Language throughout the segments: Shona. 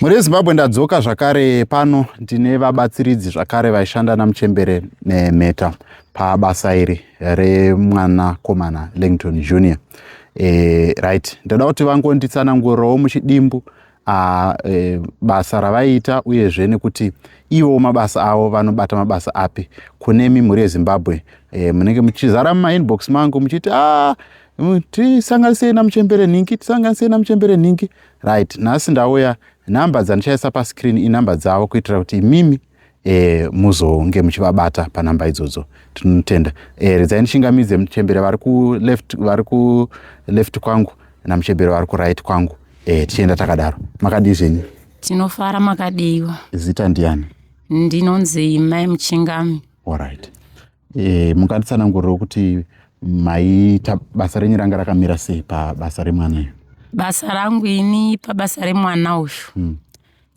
Mhuri yeZimbabwe ndadzoka zvakare pano ndine vabatsiridzi zvakare vaishanda naMuchembere nemheta pabasa iri remwanakomana Langton Junior. E, right, ndada kuti vangonditsanangurirawo muchidimbu a, e, basa ravaiita uyezve nekuti ivo mabasa avo vanobata mabasa api kune mimhuri yeZimbabwe e, munenge muchizara mumainbox mangu muchiti ah, tisanganisei namuchembere nhingi tisanganisei namuchembere nhingi right nhasi ndauya number dzandichaisa pascreen inumber dzavo kuitira kuti imimi e, muzonge muchivabata panumber idzodzo tinotenda e, eh, redzai ndichingamidze muchembere vari kuleft vari kuleft kwangu namuchembere vari kuright kwangu e, tichienda takadaro makadii zvenyu tinofara makadiiwa zita ndiani ndinonzi mai muchingami allright E, munganditsananguriro kuti maiita basa renyu ranga rakamira sei pabasa remwana iyo basa rangu ini pabasa remwana uyu hmm.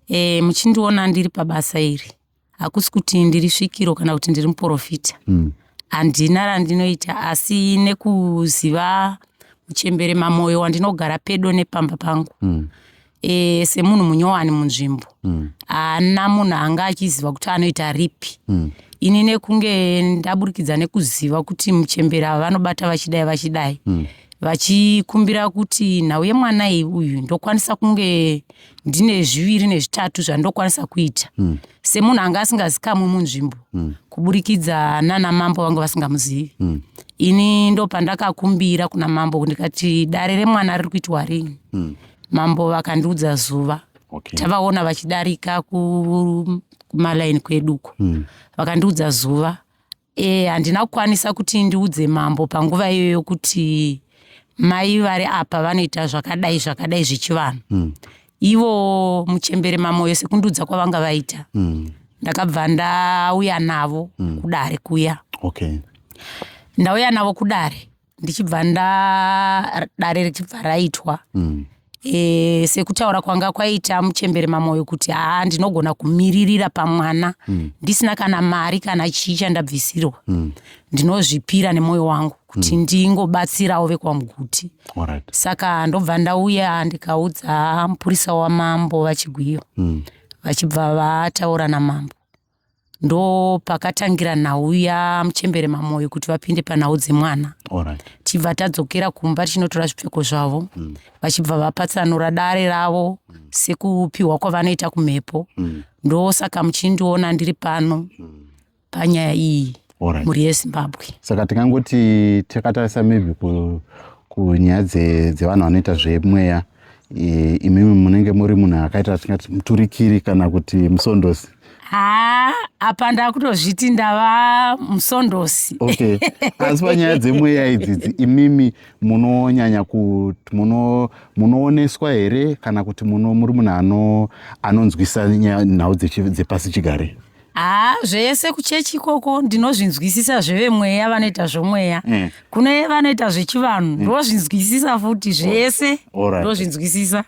e, muchindiona ndiri pabasa iri hakusi kuti ndiri svikiro kana kuti ndiri muprofita hmm. handina hmm. randinoita asi nekuziva uchembere mamoyo wandinogara pedo nepamba pangu hmm. e, semunhu munyowani munzvimbo mm. haana mm. munhu anga achiziva kuti anoita ripi mm. ini nekunge ndaburikidza nekuziva kuti muchembera ava vanobata vachidai vachidai mm. vachikumbira kuti nhau yemwana iyi uyu ndokwanisa kunge ndine zviviri nezvitatu zvandokwanisa kuita mm. semunhu anga asingazikamwi munzvimbo mm. kuburikidza nana mambo vanga vasingamuzivi mm. ini ndopandakakumbira kuna mambo ndikati dare remwana riri kuitwa rini mm. mambo vakandiudza zuva okay. tavaona vachidarika kumalaini kweduko mm. vakandiudza zuva e, handina kukwanisa kuti ndiudze mambo panguva iyoyo kuti mai vari apa vanoita zvakadai zvakadai zvechivanhu mm. ivo muchembere mamoyo sekundiudza kwavanga vaita mm. ndakabva ndauya navo mm. kudare kuya okay. ndauya navo kudare ndichibva ndadare richibva raitwa mm. e, sekutaura kwanga kwaita muchembere mamoyo kuti haa ndinogona kumiririra pamwana mm. ndisina kana mari kana chii chandabvisirwa mm. ndinozvipira nemwoyo wangu kuti mm. ndingobatsirawo vekwamuguti right. saka ndobva ndauya ndikaudza mupurisa wamambo vachigwiyo mm. vachibva vataura namambo ndo pakatangira nhau yamuchembere mamoyo kuti vapinde panhau dzemwana right. tibva tadzokera kumba tichinotora zvipfeko zvavo mm. vachibva vapatsanura dare ravo mm. sekupiwa kwavanoita kumhepo mm. ndosaka muchindiona ndiri pano mm. panyaya iyi right. mhuri yezimbabwe saka tingangoti takatarisa maybe kunyaya dzevanhu vanoita zvemweya ku Eh, imimi munenge muri munhu akaita atingati muturikiri kana kuti musondosi haa apa ndakutozviti ndava musondosi okay asi panyaya dzemweya idzidzi imimi munonyanya kuti munooneswa here kana kuti muri munhu anonzwisa nhau dzepasi chigare haa zvese kuchechi ikoko ndinozvinzwisisa zvevemweya vanoita zvomweya mm. kune vanoita zvechivanhu mm. ndozvinzwisisa futi zvese ndozvinzwisisa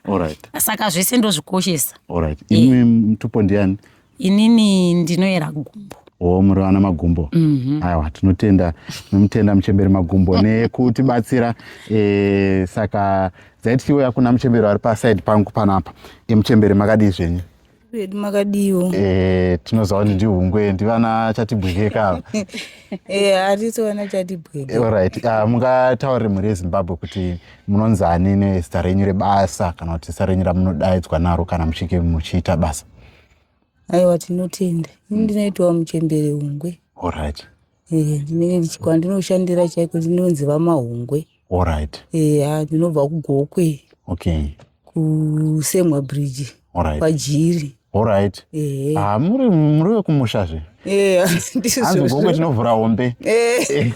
saka zvese ndozvikoshesa eh. imi mutupo ndiani inini ndinoyera gumbo wo muri vana magumbo mhm. aiwa tinotenda nomutenda muchemberi magumbo nekutibatsira eh, saka dzaitikiwo yakuna muchemberi vari paside pangu panapa emuchemberi makadii zvenyu vedu makadiiwo eh, tinoziva kuti ndihungwe ndivana chatibwekeka ava eh, hatisi vana chatibweke eh, orit ah, mungataurire mhuri yezimbabwe kuti munonzi ani nezita renyu rebasa kana kuti zita renyu ramunodaidzwa naro kana muchinge muchiita basa aiwa tinotenda ini ndinoitawo muchembere hungwe orit Eh, ndinenge ndichi- kwandinoshandira chaiko ndinonzi vamahungwe Alright. eya ndinobva kugokwe Okay. kusemwa bridge Alright. kwajiri Alright. ehe Ah, muri muri wekumusha zve. eya Hanzi gokwe ndizvozvo tinovhura hombe. Eh,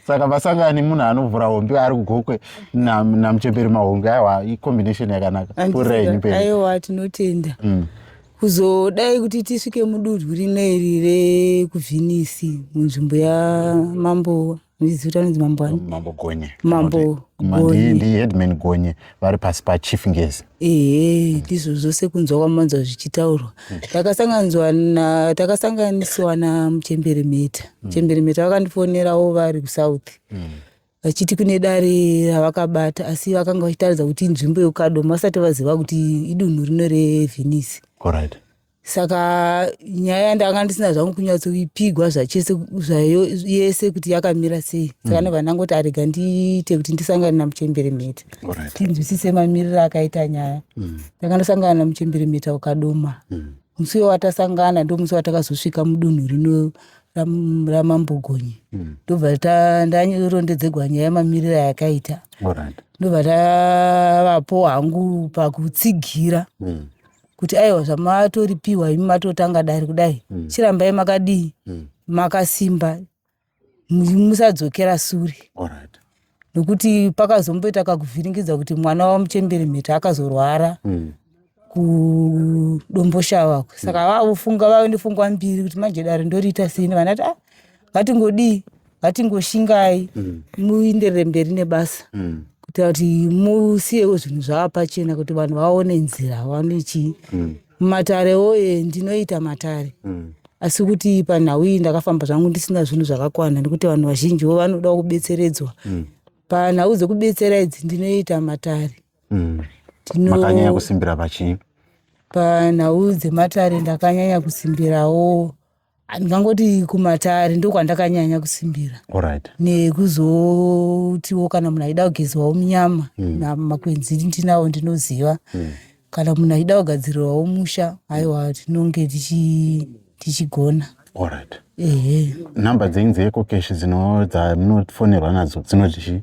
Saka vasangani munhu anovhura hombe ari kugokwe na namuchemberi mahungu aiwa i combination yakanaka. Pfuurai handisi- henyu mberi. aiwa tinotenda Mm. kuzodai kuti tisvike mudunhu rino iri rekuvhinisi munzvimbo yamambo zita anonzi mambo ani mambo gonye mambo ndiheadman gonye vari pasi pachief ngezi ehe ndizvo zvose kunzwa kwamanzwa zvichitaurwa hmm. takasanganzwa na takasanganisiwa namuchembere mheta hmm. muchembere mheta vakandifonerawo vari kusouth hmm. vachiti kune dare ravakabata asi vakanga vachitaridza kuti inzvimbo yekukadoma vasati vaziva kuti idunhu rino revhenisi right. saka nyaya yandanga ndisina zvangu kunyatsoipigwa zvachese zvayo yese kuti yakamira sei saka mm. novananga kuti arega ndiite kuti ndisangane namuchembere mheta right. tinzwisise mamiriro akaita nyaya mm. tanga ndasangana namuchembere mheta ukadoma mm. musi wewatasangana ndo musi watakazosvika mudunhu rino ramambo gonye hmm. ndobva ndarondedzegwa nyaya yemamiriro ayakaita ndobva ndavapo hangu pakutsigira hmm. kuti aiwa zvamatoripiwa imi matotanga dare kudai hmm. chirambai makadii makasimba musadzokera sure nokuti pakazomboita kakuvhiringidza kuti mwana wamuchembere mheta akazorwara mm. kudomboshava saka mm. vavofunga vave nefungwa mbiri kuti manje dare ndoriita sini vana ti ah, ngatingodii ngatingoshingai mm. muenderere mberi nebasa mm. kuita kuti musiyewo zvinhu zvaapachena kuti vanhu vaone nzira vaone chii mm. Matare woye ndinoita matare. Mm. Asi kuti panhau iyi ndakafamba zvangu ndisina zvinhu zvakakwana nekuti vanhu vazhinji wo vanoda kubetseredzwa. Mm. Panhau dzekubetsera idzi ndinoita matare. Mm. Tino... Makanyanya kusimbira pachii? Panhau dzematare ndakanyanya kusimbirawo ndingangoti kumatare ndokwandakanyanya kusimbira right. nekuzotiwo kana munhu aida kugezwawo munyama mm. namakwenzi ndinawo ndinoziva mm. kana munhu aida kugadzirirwawo musha aiwa tinonge tichigona right. ehe nhamba dzenyu dzeecocash dzino dzamunofonerwa nadzo dzinoti chii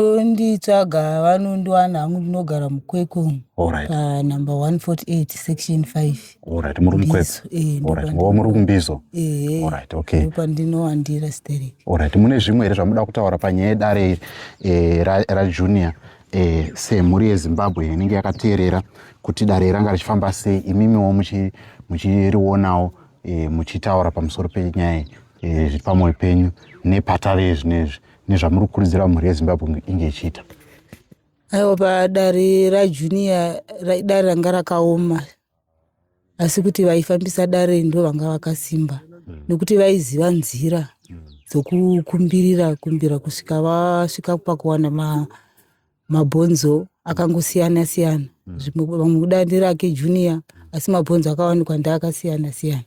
Vanonditsvaga vanondiwana hangu ndinogara mukwekwe umu Alright. panumber 148 section 5 Alright, muri mukwekwe. Mbizo, eh, ndipo Alright, pandino- oh, muri kumbizo. ehe Alright, okay. ndopandinowandira sterek Alright, mune zvimwe here zvamuda kutaura panyaya yedare iri eh, ra- rajunior eh, semhuri yezimbabwe inenge yakateerera kuti dare iri ranga richifamba sei imimiwo muchi- muchirionawo eh, muchitaura pamusoro penyaya iyi, eh, zviri pamwoyo penyu nepatave zvinezvi nezvamuri kukurudzira mhuri yezimbabwe inge ichiita aiwa padare rajunior dare ranga rakaoma asi kuti vaifambisa dare ndo vanga vakasimba hmm. nekuti vaiziva nzira hmm. dzokukumbirira kumbira kusvika vasvika pakuwana mabhonzo akangosiyana siyana hmm. zvimwe vamwe kuda ndirake junior asi mabhonzo akawanikwa ndeakasiyana siyana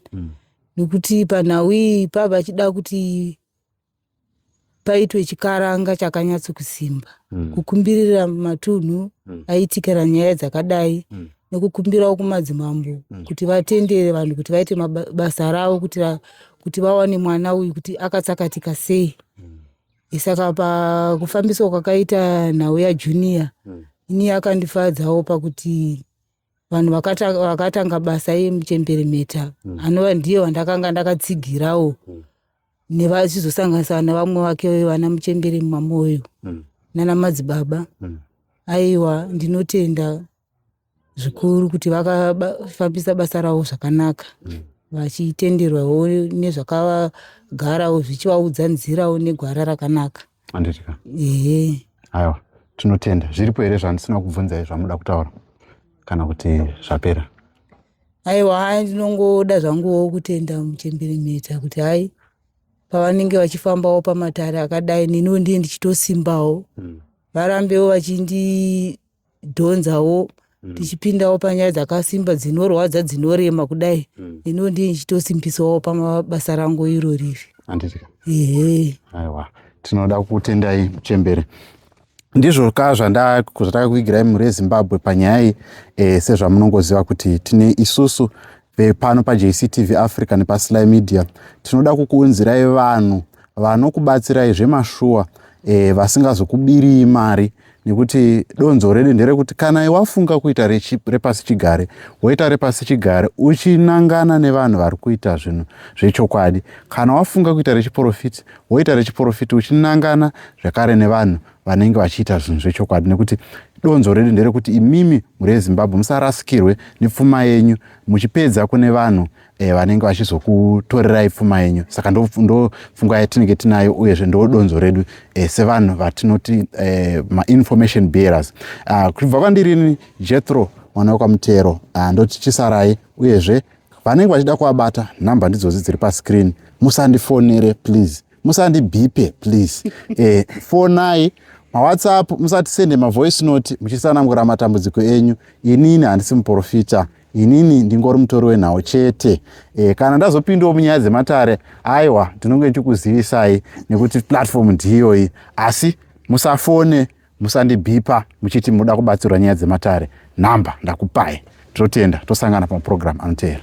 nekuti panhau iyi pavachida kuti paitwe chikaranga chakanyatso kusimba mm. kukumbirira matunhu mm. aitikira nyaya dzakadai mm. nekukumbirawo kumadzimambo mm. kuti vatendere vanhu kuti vaite basa ravo kuti va, kuti vawane mwana uyu kuti akatsakatika sei mm. isaka pakufambiswa kwakaita nhau yajunior mm. ini yakandifadzawo pakuti vanhu vakatanga basa yemuchembere meta mm. anova ndiye vandakanga ndakatsigirawo mm. nevachizosanganisana nevamwe vake uyo vana muchembere mwamoyo mm. nana madzibaba mm. aiwa ndinotenda zvikuru kuti vakafambisa basa ravo zvakanaka mm. vachitenderwawo nezvakagarawo zvichivaudza nzirawo negwara rakanaka mm. handiti ka ehe aiwa tinotenda zviripo here zvandisina kubvunzai zvamuda kutaura kana kuti zvapera aiwa hai ndinongoda zvanguwo kutenda muchembere mheta kuti hai pavanenge vachifambawo pamatare akadai neniwo ndiye ndichitosimbawo Mm. varambewo vachindi tichidhonzawo mm. tichipindawo panyaya dzakasimba dzinorwadza dzinorema kudai mm. ino ndiye ndichitosimbisawo pamabasa rangu iro riri anditika ehe aiwa tinoda kutendai muchembere ndizvo ka zvatakakuigirai mhuri yezimbabwe panyaya iyi e, sezvamunongoziva kuti tine isusu e, pano pajctv africa nepasly media tinoda kukuunzirai vanhu vanokubatsirai zvemashuwa e, vasingazokubiriyi mari nekuti donzo redu nderekuti kana wafunga kuita repasi chigare woita repasi chigare uchinangana nevanhu vari kuita zvinhu zvechokwadi kana wafunga kuita rechiporofiti woita rechiporofiti uchinangana zvekare nevanhu vanenge vachiita zvinhu zvechokwadi nekuti donzo redu nderekuti imimi mhuri yezimbabwe musarasikirwe nepfuma yenyu muchipedza kune vanhu e, vanenge vachizokutorerai pfuma yenyu saka ndopfungwa yatinenge tinayo uyezve ndo donzo redu e, sevanhu vatinoti e, mainformation bearers ah, kubva kwandirini jethro mwana wekwamutero ah, ndoti chisarai uyezve vanenge vachida kuvabata nhamba ndidzodzi dziri pascreen musandifonere please musandibhipe please eh, fonai mawhatsapp musatisende mavoice note muchisanangura matambudziko enyu inini handisi muprofita inini ndingori mutori wenhau chete e, kana ndazopindawo munyaya dzematare aiwa ndinonge ndichikuzivisai nekuti platform ndiyoyi asi musafone musandibhipa muchiti munoda kubatsirwa nyaya dzematare nhamba ndakupai totenda tosangana pamaprogramu anoteera